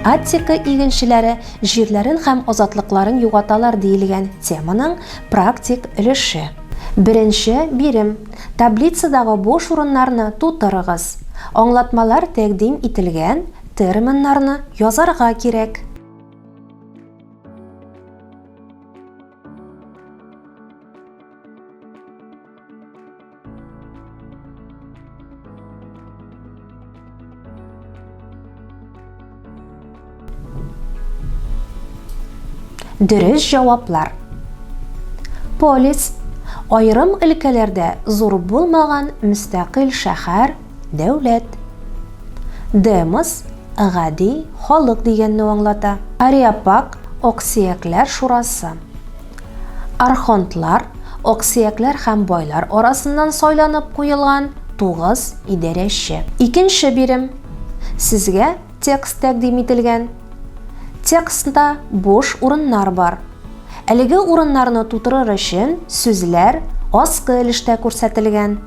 Аттика игенчеләре җирләрен һәм азатлыкларын югаталар диелгән теманың практик өлеше. Беренче бирем. Таблицадагы буш урыннарны тутырыгыз. Аңлатмалар тәкъдим ителгән терминнарны язарга кирәк. Дөрес җаваплар. Полис айрым өлкәләрдә зур булмаган мөстәкыйль шәһәр Дәүләт. Демос, гади халык дигәнне аңлата. Ариапак, Аксөякләр шурасы. Архонтлар, аксөякләр һәм байлар арасыннан сайланып куелган тугыз идарәче. Икенче бирем. Сезгә текст тәкъдим ителгән. Текстта буш урыннар бар. Әлеге урыннарны тутырыр өчен сүзләр аскы өлештә күрсәтелгән.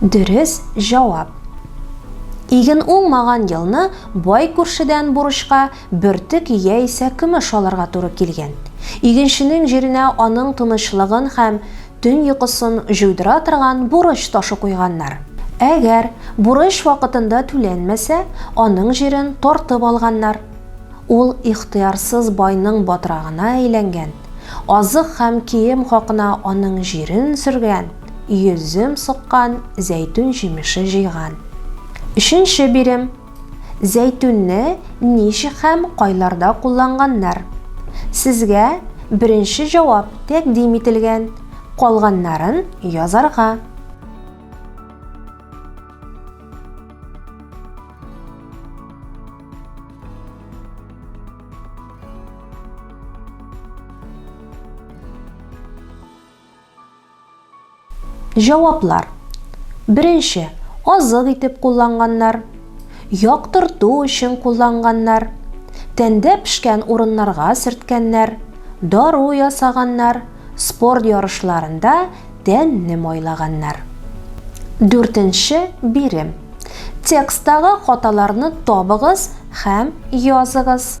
Дөрес җавап. Иген уңмаган елны бай күршедән бурычка бөртек яисә көмеш алырга туры килгән. Игенченең җиренә аның тынычлыгын һәм төн йокысын җуйдыра торган бурыч ташы куйганнар. Әгәр бурыч вакытында түләнмәсә, аның җирен тартып алганнар. Ул ихтыярсыз байның батрагына әйләнгән, азык һәм кием хакына аның җирен сөргән. йөзем суккан, зәйтүн җимеше җыйган. Өченче бирем. Зәйтүнне ничек һәм кайларда кулланганнар? Сезгә беренче җавап тәкъдим ителгән, калганнарын язарга. Җаваплар. Беренче, азык итеп кулланганнар. Яктырту өчен кулланганнар. Тәндә пешкән урыннарга сөрткәннәр. Дару ясаганнар. Спорт ярышларында тәнне майлаганнар. Дүртенче бирем. Текстагы хаталарны табыгыз һәм языгыз.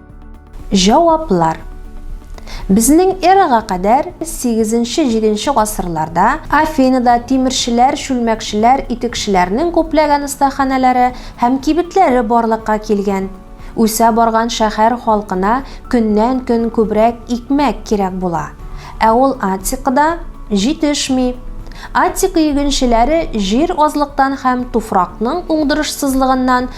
Җаваплар. Безнең эрага кадәр 8-7 гасырларда Афинада тимерчеләр, чүлмәкчеләр, итекчеләрнең күпләгән остаханәләре һәм кибетләре барлыкка килгән. Үсә барган шәһәр халкына көннән-көн күбрәк икмәк кирәк була. Ә ул Аттикада җитешми. Аттика игенчеләре җир азлыктан һәм туфракның уңдырышсызлыгыннан